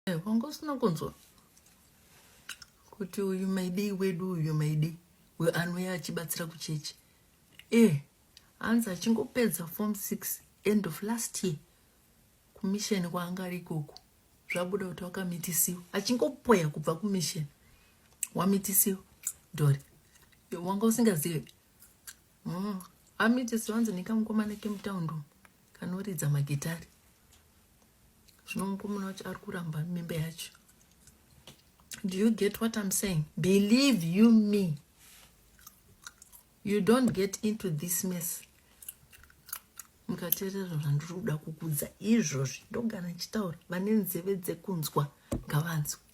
eh, wanga usina kunzwa kuti uyu maidei wedu uyu maidei uyo anouya achibatsira kuchechi eh hanzi achingopedza form six end of last year kumisheni kwaanga ari ikoko zvabuda kuti wakamitisiwa achingopoya kubva kumisheni wamitisiwa dori wanga usingazive mm. amitisiwa anzi nekamukomana kemutaundi kanoridza magitari zvino mukomana wacho ari kuramba mimba yacho do you get what i'm saying believe you me you don't get into this mess mukateerera zvandiri kuda kukudza izvozvi ndogara ndichitaura vane nzeve dzekunzwa ngavanzwe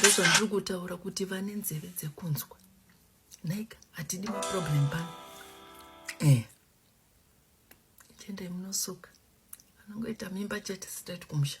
ndozvandiri kutaura kuti vane nzeve dzekunzwa naika hatidi maproblem pano eh. chendai munosuka anongoita mimba chete sitati kumusha